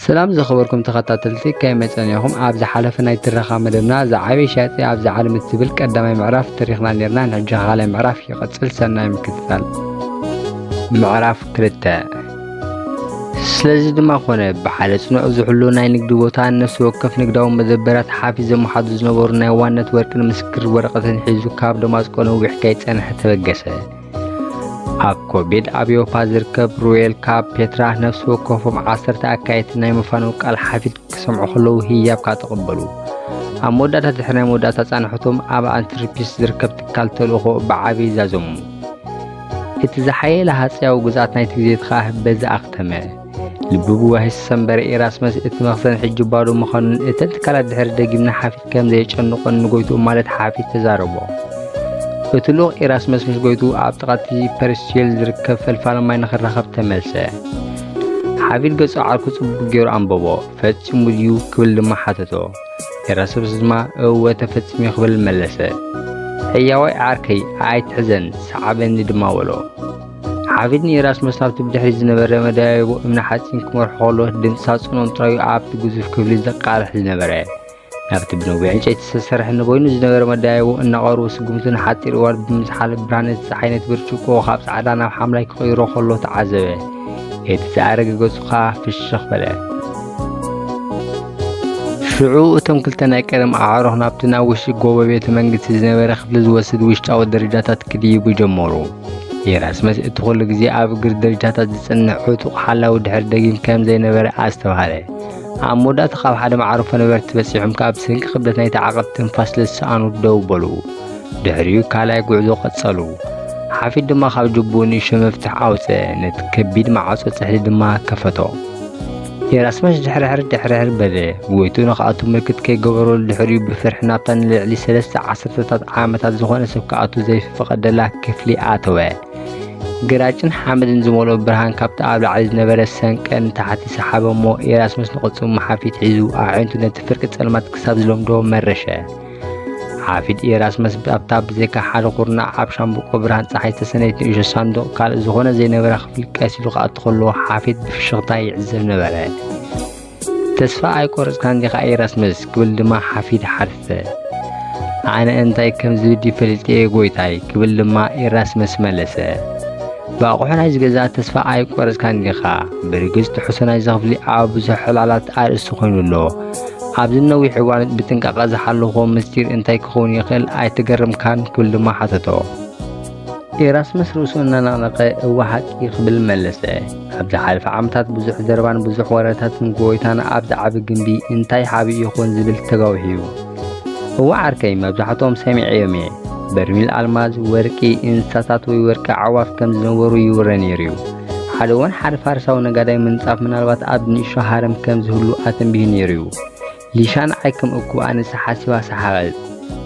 ሰላም ዝኸበርኩም ተኸታተልቲ ከመይ ጸኒኹም ኣብ ዝሓለፈ ናይ ትረኻ መደብና ዝዓበየ ሻያጢ ኣብዚ ዓለም እትብል ቀዳማይ ምዕራፍ ተሪኽና ነርና ንሕጂ ካልኣይ ምዕራፍ ይቐጽል ሰናይ ምክትታል ምዕራፍ ክልተ ስለዚ ድማ ኮነ ብሓደ ጽኑዕ ዝሕሉ ናይ ንግዲ ቦታ ነፍሲ ወከፍ ንግዳዊ መደበራት ሓፊ ዘመሓዱ ዝነበሩ ናይ ዋነት ወርቅን ምስክር ወረቐትን ሒዙ ካብ ደማስቆ ነዊሕ ከይጸንሐ ተበገሰ ኣብ ኮቤድ ኣብ ኤውሮፓ ዝርከብ ሩዌል ካብ ፔትራ ነፍሲ ወከፎም ዓሰርተ ኣካየድቲ ናይ ምፋኑ ቃል ሓፊት ክሰምዑ ከለዉ ህያብ ካብ ተቐበሉ ኣብ መወዳእታ ድሕሪ ናይ መወዳእታ ፃንሖቶም ኣብ ኣንትርፒስ ዝርከብ ትካል ተልእኾ ብዓቢ ዛዘሙ እቲ ዝሓየለ ሃፀያዊ ግዝኣት ናይቲ ግዜ ከዓ በዚ ኣኽተመ ልቢ ብዋሂስ ሰምበረ ኢራስመስ እቲ መኽዘን ሕጂ ባዶ ምዃኑን እተን ትካላት ድሕሪ ደጊምና ሓፊት ከም ዘየጨንቆን ንጎይትኡ ማለት ሓፊት ተዛረቦ እቲ ልኡኽ ኢራስመስ ምስ ጎይትኡ ኣብ ጥቓቲ ፐርስቲል ዝርከብ ፈልፋሊ ማይ ንኽራኸብ ተመልሰ ሓፊት ገጹ ዓርኩ ጽቡቕ ገይሩ ኣንበቦ ፈጺሙ ድዩ ክብል ድማ ሓተቶ ኢራስመስ ድማ እወ ተፈጺሙ ክብል መለሰ ሕያዋይ ዓርከይ ኣይትሕዘን ሰዓበኒ ድማ በሎ ሓፊት ንኤራስመስ ኣብቲ ብድሕሪት ዝነበረ መደያይቦ እምኒ ሓጺን ክመርሖ ከሎ ድምፂ ሳጹኖም ጥራዩ ኣብቲ ግዙፍ ክፍሊ ዘቃርሕ ዝነበረ ናብቲ ብነዊሕ ዕንጨይቲ ዝተሰርሐ ንበይኑ ዝነበረ መደያይቦ እናቐርቡ ስጉምቱ ንሓጺር እዋን ብምዝሓል ብርሃነ እቲ ፀሓይ ነቲ ብርጭቆ ካብ ጻዕዳ ናብ ሓምላይ ክቕይሮ ከሎ ተዓዘበ እቲ ዝኣረገ ገጹ ከዓ ፍሽኽ በለ ሽዑ እቶም ክልተ ናይ ቀደም ኣዕሩኽ ናብቲ ናብ ውሽጢ ጎቦ ቤተ መንግስቲ ዝነበረ ክፍሊ ዝወስድ ውሽጣዊ ደረጃታት ክድይቡ ጀመሩ ኢራስመስ እቲ ኹሉ ግዜ ኣብ እግሪ ደረጃታት ዝጽንዕ ዕጡቕ ሓላዊ ድሕሪ ደጊም ከም ዘይነበረ ኣስተብሃለ። ኣብ መወዳእታ ካብ ሓደ መዓርፎ ነበርቲ በጺሖም ካብ ስንቂ ክብደት ናይቲ ዓቐብ ትንፋስ ስለዝሰኣኑ ደው በሉ። ድሕሪኡ ካልኣይ ጉዕዞ ቀጸሉ። ሓፊድ ድማ ካብ ጅቡኡ ንእሽቶ መፍትሕ ኣውጽአ፣ ነቲ ከቢድ መዓጾ ጽሕዲ ድማ ከፈቶ። የራስመስ ድሕርሕር ድሕርሕር በለ። ጎይትኡ ንኽኣቱ ምልክት ከይገበረሉ ድሕሪኡ ብፍርሒ ናብታ ንልዕሊ ሰለስተ ዓሰርተታት ዓመታት ዝኾነ ሰብ ክኣቱ ዘይፈቐደላ ክፍሊ ኣተወ። ግራጭን ሓመድን ዝመልኦ ብርሃን ካብቲ ኣብ ላዕሊ ዝነበረ ሰንቀ ንታሕቲ ሰሓበ እሞ የራስመስ ንቕጽሙ መሓፊት ሒዙ ኣዒንቱ ነቲ ፍርቂ ጸልማት ክሳብ ዝለምዶ መረሸ። ሓፊድ ኤራስመስ ኣብታ ብዘይካ ሓደ ኩርናዕ ኣብ ሻምብቆ ብርሃን ፀሓይ ዝተሰነየት ንእሾ ሳንዱቕ ካልእ ዝኾነ ዘይነበራ ክፍሊ ቀስ ኢሉ ክኣቱ ከለዎ ሓፊድ ብፍሽኽታ ይዕዘብ ነበረ። ተስፋ ኣይቆረፅካን ዲኻ ኤራስመስ ክብል ድማ ሓፊድ ሓተተ። ኣነ እንታይ ከም ዝብድ ይፈልጥ እየ ጎይታይ ክብል ድማ ኤራስመስ መለሰ። ብኣቑሑ ናይ ዝገዛ ተስፋ ኣይቆረፅካን ዲኻ? ብርግፅ ትሕሶ ናይዚ ክፍሊ ኣብ ብዙሕ ዕላላት ኣርእስቲ ኮይኑ ኣሎ። ኣብዚ ነዊሕ እዋን ብጥንቃቐ ዝሓለኾ ምስጢር እንታይ ክኸውን ይኽእል ኣይተገረምካን ክብል ድማ ሓተቶ ኤራስመስ ርእሱ እናነቕነቐ እወ ሓቂ ክብል መለሰ ኣብ ዝሓለፈ ዓመታት ብዙሕ ዘረባን ብዙሕ ወረታትን ጎይታን ኣብዚ ዓቢ ግምቢ እንታይ ሓቢ ይኹን ዝብል ተጋዊሑ እዩ እወ ዓርከይ መብዛሕትኦም ሰሚዐዮም እየ በርሚል ኣልማዝ ወርቂ እንስሳታት ወይ ወርቂ ዓዋፍ ከም ዝነበሩ ይውረ ነይሩ እዩ ሓደ እዋን ሓደ ፋርሳዊ ነጋዳይ ምንጻፍ ምናልባት ኣብ ንእሾ ሃረም ከም ዝህሉ ኣተንቢሁ ነይሩ እዩ። ሊሻ ንዓይ ከም እኩብ ኣንስቲ ሓሲባ ሰሓቐት።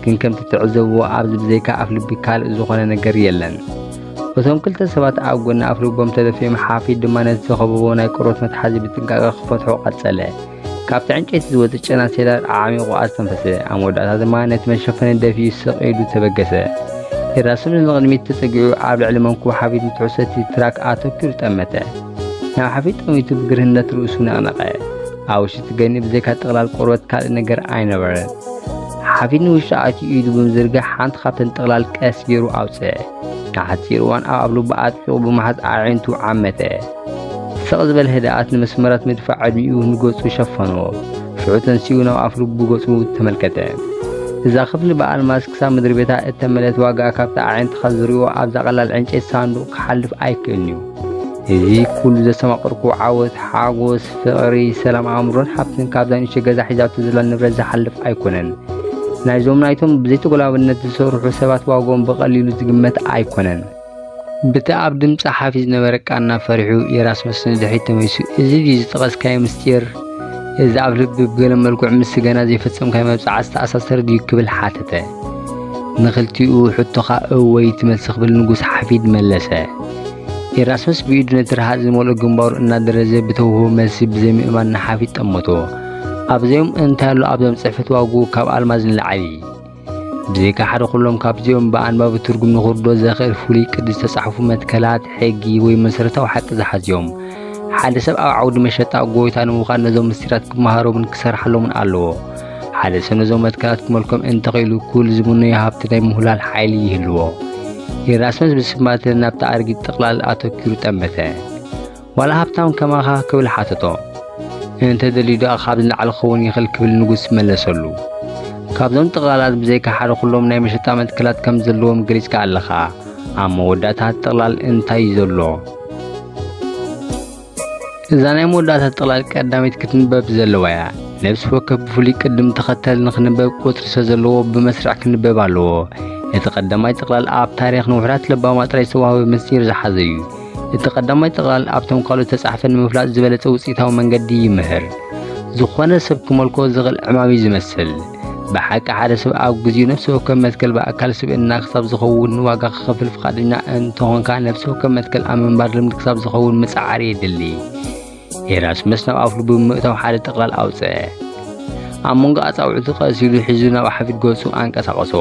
ግን ከምቲ ትዕዘብዎ ኣብዚ ብዘይካ ኣፍ ልቢ ካልእ ዝኾነ ነገር የለን። እቶም ክልተ ሰባት ኣብ ጎኒ ኣፍ ልቦም ተደፊኦም ሓፊት ድማ ነቲ ዝኸበቦ ናይ ቆርበት መትሓዚ ብጥንቃቐ ክፈትሖ ቀጸለ። ካብቲ ዕንጨይቲ ዝወጽእ ጨና ሴላር ኣዓሚቑ ኣስተንፈሰ። ኣብ መወዳእታ ድማ ነቲ መሸፈኒ ደፊኡ ስቕ ኢሉ ተበገሰ። ሄራሱን ንቕድሚት ተጸጊዑ ኣብ ልዕሊ መንኩቡ ሓፊት ንትሕሰቲ ትራክ ኣተኪሩ ጠመተ። ናብ ሓፊት ጠሚቱ ብግርህነት ርእሱ ነቕነቐ። ኣብ ውሽጢ ገኒ ብዘይካ ጥቕላል ቆርበት ካልእ ነገር ኣይነበረን። ሓፊት ንውሽጢ ኣትዩ ኢዱ ብምዝርጋሕ ሓንቲ ካብተን ጥቕላል ቀስ ገይሩ ኣውጽአ። ንሓጺር እዋን ኣብ ልቡ ኣጥቢቑ ብምሓዝ ኣዒንቱ ዓመተ። ስቕ ዝበለ ህድኣት ንመስመራት ምድፋእ ዕድሚኡ ንገጹ ሸፈኖ። ሽዑ ተንሲኡ ናብ ኣፍልቡ ገጹ ተመልከተ። እዛ ክፍሊ ብኣልማዝ ክሳብ ምድሪቤታ እተመልእት ዋጋኣ ካብቲ ኣዒንትኻ ዝርእዮ ኣብዛ ቀላል ዕንጨይቲ ሳንዱቕ ክሓልፍ ኣይክእልን'ዩ። እዚ ኩሉ ዘስተማቐርኩ ዓወት፣ ሓጎስ፣ ፍቕሪ፣ ሰላም ኣእምሮን ሓብትን ካብዛ ንእሽቶ ገዛ ሒዛቶ ዘላ ንብረት ዝሓልፍ ኣይኮነን። ናይዞም ናይቶም ብዘይተጎላብነት ዝሰርሑ ሰባት ዋግኦም ብቐሊሉ ዝግመት ኣይኮነን። ብቲ ኣብ ድም ጸሓፊ ዝነበረ ቃና ፈሪሑ የራስመስ ንድሕሪት ተመሊሱ እዚ ድዩ ዝጠቐስካዮ ምስጢር እዚ ኣብ ልቢ ብገለ መልክዑ ምስ ገና ዘይፈጸምካዮ መብጽዓ ዝተኣሳሰረ ድዩ ክብል ሓተተ። ንኽልቲኡ ሕቶኻ እወይ ትመልሲ ክብል ንጉስ ሓፊድ መለሰ። ኤራስመስ ብኢዱ ነቲ ረሃጽ ዝመልኦ ግንባሩ እናደረዘ ብተውህቦ መልሲ ብዘይምእማን ንሓፊት ጠመቶ። ኣብዚኦም እንታይ ኣሎ ኣብዞም ጽሕፈት ዋግኡ ካብ ኣልማዝ ንላዕሊ። ብዘይካ ሓደ ኩሎም ካብዚኦም ብኣንባቢ ትርጉም ንኽርዶ ዘኽእል ፍሉይ ቅዲ ዝተጻሕፉ መትከላት ሕጊ ወይ መሰረታዊ ሓቂ ዝሓዝዮም ሓደ ሰብ ኣብ ዓውዲ መሸጣ ጎይታ ንምዃን ነዞም ምስጢራት ክመሃሮምን ክሰርሓሎምን ኣለዎ። ሓደ ሰነ እዞም መትከላት ክመልኮም እንተኽኢሉ ኩል ዝምነዮ ሃብቲ ናይ ምሁላል ሓይሊ ይህልዎ ኢራስመስ ብስማት ናብቲ ኣርጊት ጥቕላል ኣተኪሩ ጠመተ ዋላ ሃብታም ከማኻ ክብል ሓተቶ እንተ ደልዩ ደኣ ካብ ንላዕሊ ክኸውን ይኽእል ክብል ንጉስ መለሰሉ ካብዞም ጥቕላላት ብዘይካ ሓደ ኩሎም ናይ መሸጣ መትከላት ከም ዘለዎም ገሊጽካ ኣለኻ ኣብ መወዳእታ ጥቕላል እንታይ እዩ ዘሎ እዛ ናይ መወዳእታ ጥቕላል ቀዳመይቲ ክትንበብ ዘለዋ እያ። ነብሲ ወከፍ ብፍሉይ ቅድም ተኸተል ንኽንበብ ቁጽሪ ሰዘለዎ ብመስርዕ ክንበብ ኣለዎ። እቲ ቀዳማይ ጥቕላል ኣብ ታሪኽ ንውሑዳት ለባማት ጥራይ ዝተዋህበ ምስጢር ዝሓዘ እዩ። እቲ ቀዳማይ ጥቕላል ኣብቶም ካልኦት ዝተጻሕፈ ንምፍላጥ ዝበለጸ ውጽኢታዊ መንገዲ ይምህር። ዝኾነ ሰብ ክመልኮ ዝኽእል ዕማም'ዩ ዝመስል። ብሓቂ ሓደ ሰብ ኣብ ግዜኡ ነፍሲ ወከፍ መትከል ብኣካል ስብእና ክሳብ ዝኸውን ዋጋ ክኸፍል ፍቓደኛ እንተኾንካ ነፍሲ ወከፍ መትከል ኣብ ምንባር ልምዲ ክሳብ ዝኸውን ምጽዓር የድሊ ኤራስመስ ናብ ኣፍሉ ብምእታው ሓደ ጥቕላል ኣውፅአ ኣብ መንጎ ኣፃውዕቱ ቀሲሉ ሒዙ ናብ ሓፊድ ገጹ ኣንቀሳቐሶ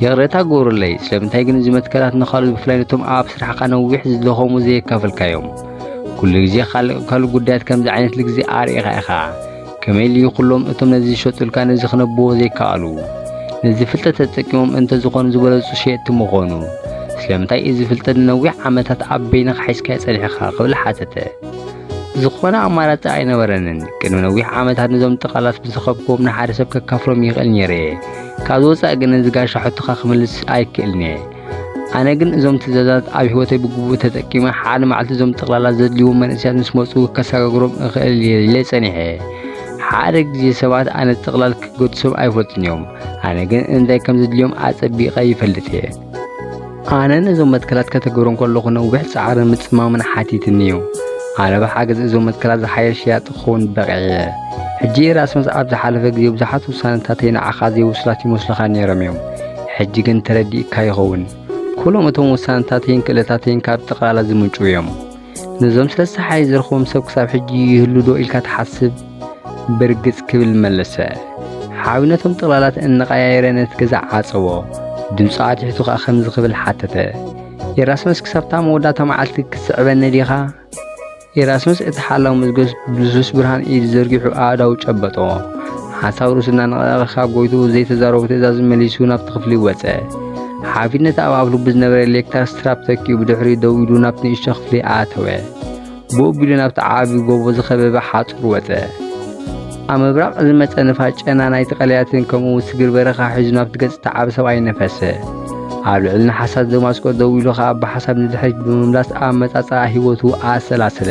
ይቕሬታ ግብሩለይ ስለምንታይ ግን እዚ መትከላት ንካልኦት ብፍላይ ነቶም ኣብ ስራሕካ ነዊሕ ዝደኸሙ ዘየካፈልካዮም ኩሉ ግዜ ካልእ ጉዳያት ከምዚ ዓይነት ልግዜ ኣርእኻ ኢኻ ከመይ ልዩ ኩሎም እቶም ነዚ ዝሸጡልካ ነዚ ክነብዎ ዘይከኣሉ ነዚ ፍልጠት ተጠቂሞም እንተ ዝኾኑ ዝበለጹ ሸየጥቲ ምኾኑ ስለምንታይ እዚ ፍልጠት ንነዊሕ ዓመታት ኣብ በይንኻ ሒዝካዮ ጸኒሕኻ ክብል ሓተተ ዝኾነ ኣማራጺ ኣይነበረንን ቅድሚ ነዊሕ ዓመታት ነዞም ጥቓላት ብዝኸብክዎም ንሓደ ሰብ ከካፍሎም ይኽእል ነይረ እየ ካብዚ ወፃኢ ግን እዚ ጋሻ ሕቶኻ ክምልስ ኣይክእልን እየ ኣነ ግን እዞም ትእዛዛት ኣብ ህይወተይ ብግቡእ ተጠቂመ ሓደ መዓልቲ እዞም ጠቕላላ ዘድልዎም መንእሰያት ምስ መፁ ከሰጋግሮም እኽእል እየ ኢለ ጸኒሐ። ሓደ ግዜ ሰባት ኣነ ጥቕላል ክገድሶም ኣይፈልጡን እዮም፣ ኣነ ግን እንታይ ከም ዘድልዮም ኣጸቢቐ ይፈልጥ እየ። ኣነ ነዞም መትከላት ከተግብሮም ከለኹ ነዊሕ ጻዕርን ምጽማምን ሓቲትኒ እዩ። ኣነ ብሓገዝ እዞም መትከላት ዝሓየሽ ሸያጢ ክኸውን በቒዐ እየ። ሕጂ ኢራስመስ ኣብ ዝሓለፈ ግዜ ብዙሓት ውሳነታተይ ንዓኻ ዘይውሱላት ይመስሉኻ ነይሮም እዮም ሕጂ ግን ተረዲእካ ይኸውን። ኩሎም እቶም ውሳነታተይን ክእለታተይን ካብ ጥቕላላ ዝምንጩ እዮም። ነዞም ስለስተ ሓይ ዝረኽቦም ሰብ ክሳብ ሕጂ ይህሉ ዶ ኢልካ ትሓስብ? ብርግጽ ክብል መለሰ። ሓዊ ነቶም ጥቕላላት እናቐያየረ ነቲ ገዛ ዓጸዎ። ድምፁ ኣትሒቱ ከኣ ከምዚ ክብል ሓተተ። ኢራስመስ ክሳብታ መወዳእታ መዓልቲ ክትስዕበኒ ዲኻ? ኢራስመስ እቲ ሓላው መዝገብ ብልሱስ ብርሃን ኢድ ዘርጊሑ ኣእዳው ጨበጦ። ሓሳብ ርእሱ እናነቐነቐ ካብ ጎይትኡ ዘይተዛረቦ ትእዛዝ መሊሱ ናብቲ ክፍሊ ወጸ። ሓፊት ነቲ ኣብ ኣፍ ልቡ ዝነበረ ሌክታር ስትራፕ ተኪኡ ብድሕሪኡ ደው ኢሉ ናብቲ ንእሽቶ ክፍሊ ኣተወ። ብኡቢሉ ናብቲ ዓቢ ጎቦ ዝኸበበ ሓጹር ወጸ። ኣብ ምብራቕ ዝመጸ ንፋስ ጨና ናይቲ ቀላያትን ከምኡ ስግር በረኻ ሒዙ ናብቲ ገጽ ዝተዓበ ሰብኣይ ነፈሰ። ኣብ ልዕሊ ንሓሳት ደማስቆ ደው ኢሉ ኸኣ ብሓሳብ ንድሕሪት ብምምላስ ኣብ መጻጻኣ ህይወቱ ኣሰላሰለ።